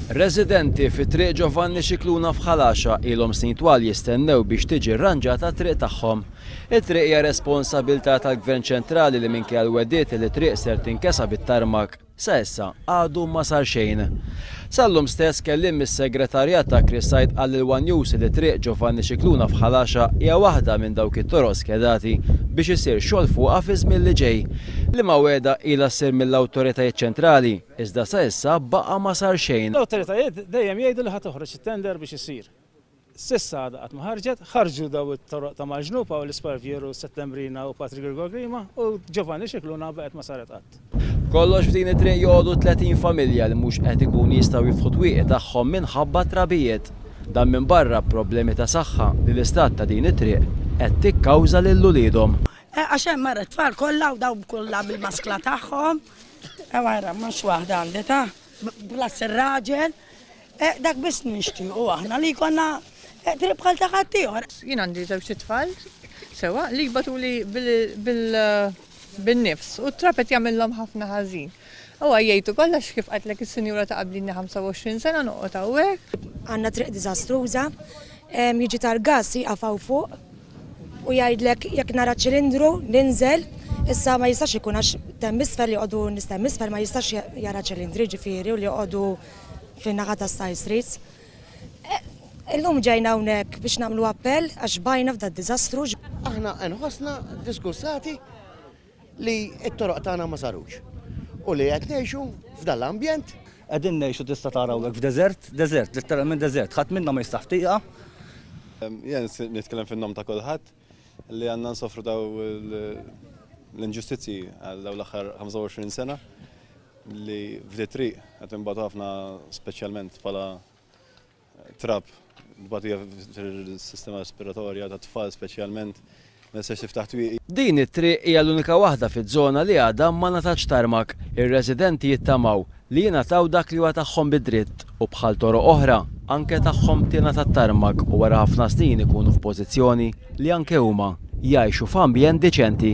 Residenti fi Triq Ġovanni Scicluna f'Ħal Għaxaq ilhom snin twal jistennew biex tiġi rranġata t-triq tagħhom. It-triq hija responsabilità tal-Gvern Ċentrali li minkejja l-wegħdiet li t-triq ser tinkesa bit-tarmak, sa issa għadu ma sar xejn. Sal-lum stess, kelliem mis-Segretarjat ta' Chris Said qal lil one News li Triq Ġovanni Scicluna f'Ħal Għaxaq hija waħda minn dawk it-toroq skedati biex isir xogħol fuqha fiż-żmien li ġej. Liema wegħda ilha ssir mill-awtoritajiet ċentrali, iżda sa issa baqa' ma sar xejn. L-awtoritajiet dejjem jgħidu li ħa toħroġ it-tender biex isir. S'issa għadha qatt ma ħarġet. Ħarġu dawn it-toroq ta' Malġnu, Paul Sparviero, Settembrina u Patrick Gilgo Grima u Giovanni Scicluna baqgħet ma saret qatt. B'kollox f'din it-triq joqogħdu 30 familja li mhux qed ikunu jistgħu jiftħu t-twieqi tagħhom minħabba t-trabijiet. Dan minbarra problemi ta' saħħa li l-istat ta' din it-triq qed tikkawża lil uliedhom. Eh għax hemm ara t-tfal kollha u dawn kollha bil-maskla tagħhom. Ew ara mhux waħda għandi ta, plus ir-raġel. Eh, dak biss nixtiequ aħna li jkollna eh, triq bħal ta' ħaddieħor. Jien għandi żewġ tfal sewa li jbatuli bil-nifs u t-trapet jagħmilhom ħafna ħażin. U għajjajtu kollax kif qatlek il-senjura ta' qablini 25 sena noqgħod hawnhekk. Għandna triq diżastruża, jiġi tal-gas jaqafaw fuq u jgħidlek jekk nara ċilindru ninżel Issa ma jistax ikun għax temmisfer li għodu nistemmisfer ma jistax jara ċilindri ġifiri u li għodu fin-naħa ta' Style Streets. Illum ġejna hawnhekk biex nagħmlu appell għax xbajna f'da d-diżastru. Aħna nħossna diskussati li t-toroq tagħna ma sarux u li qed ngħixu f'dan l-ambjent. Qegħdin ngħixu tista' tara hawnhekk f'deżert, deżert, litteralment deżert. Ħadd minna ma jistaħ f'tieqa. Jien nitkellem fin-nom ta' kulħadd. li għandna nsofru daw l-inġustizzji għal daw l-aħħar 25 sena li f'di triq qed imbagħad ħafna speċjalment bħala trab tbatija fil-sistema respiratorja ta' tfal speċjalment Din it-triq hija l-unika waħda fiż-żona li għadha ma ngħatatx tarmak. Ir-residenti jittamaw Li jingħataw dak li huwa tagħhom bi dritt u bħal toroq oħra. Anke tagħhom tingħata t-tarmak u wara ħafna snin ikunu f'pożizzjoni li anke huma jgħixu f'ambjent diċenti.